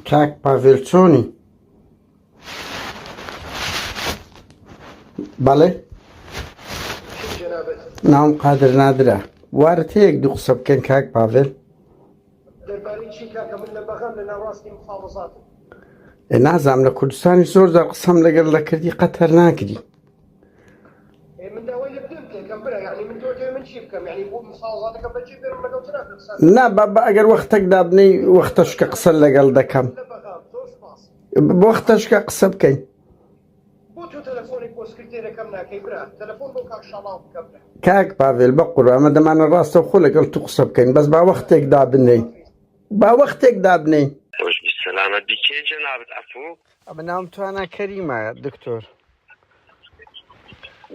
کاک پاڤێل چۆنی؟ بەڵێ ناوم قادر نادرە وارد هەیەک دوو قسە بکەن کاک پاڤێل نازام لە کوردستانی زۆر زار قسەم لەگەر لە کردی قەتەر ناکری نا با با ئەگەر وەختەک دابنێی وەختەشکە قسە لەگەڵ دەکەم وەختەشکە قسە بکەین کاک پاڤێل بە قورامە دەمانە ڕاستە خۆ لەگەڵ تو قسە بکەین بەس با وەختێک دابنێی با وەختێک دابنێی سلامت بی کێ جنابت ئەفو ئەمە ناوم توانا کەریمە دکتۆر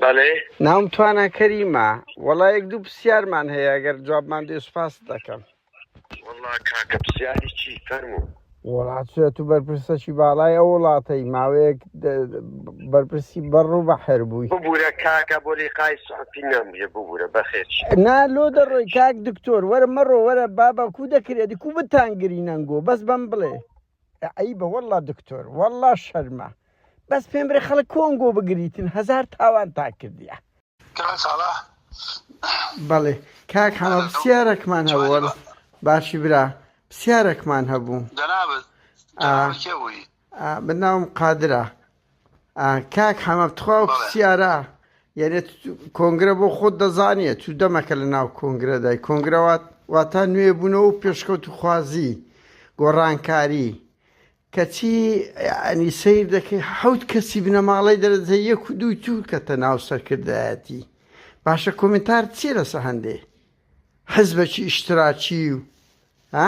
بەێ ناوم توانا کەریمە وەڵا یەک دوو پرسیارمان هەیە گەر جوابمان دێ سوپاس دەکەم وڵا کاکە پرسیاری چی فەرمو وڵاتە تو بەرپرسەکی باڵای ئەو وڵاتەی ماوەیەک بەرپرسی بەڕ و بە حەر بووی ببوورە کاکە بۆ لی قای سعپی نامە ببوورە بەخێچ نا لۆ دەڕۆی کاک دکتۆر وەرە مەڕۆ وەرە بابا کو دەکرێتی کو بتان گرینەنگۆ بەس بەم بڵێ عەیبە وەڵڵا دکتۆر وەڵڵا شەرمە بەس پێم برێ خەڵک کۆنگۆ بگریتن هەزار تاوانتان کردیە. کاک ساڵح بەڵێ کاک حەمە هەلۆ پرسیارەکمان هەبوو جوانی وەڵ- بە باشی برا پرسیارەکمان هەبوو جەنابت آه. جەنابت کێ بووی؟ ئا، بە ناوم قادرە کاک حەمە تخوا و پرسیارە یعنی کۆنگرە بۆ خۆت دەزانێت تو دەمەکە لە ناو کۆنگرەدای کۆنگرەوات واتا نوێ بوونەوە و پێشکەوت و خوازی گۆڕانکاری کەچی ئەنی سیر دەکەی حەوت کەسی بنەماڵەی دەرەجە یەک و دووی تورکەتە ناو سەرکردایەتی باشە کۆمنتار چی لەسە هەندێ حزبەکی ئیشتراکی و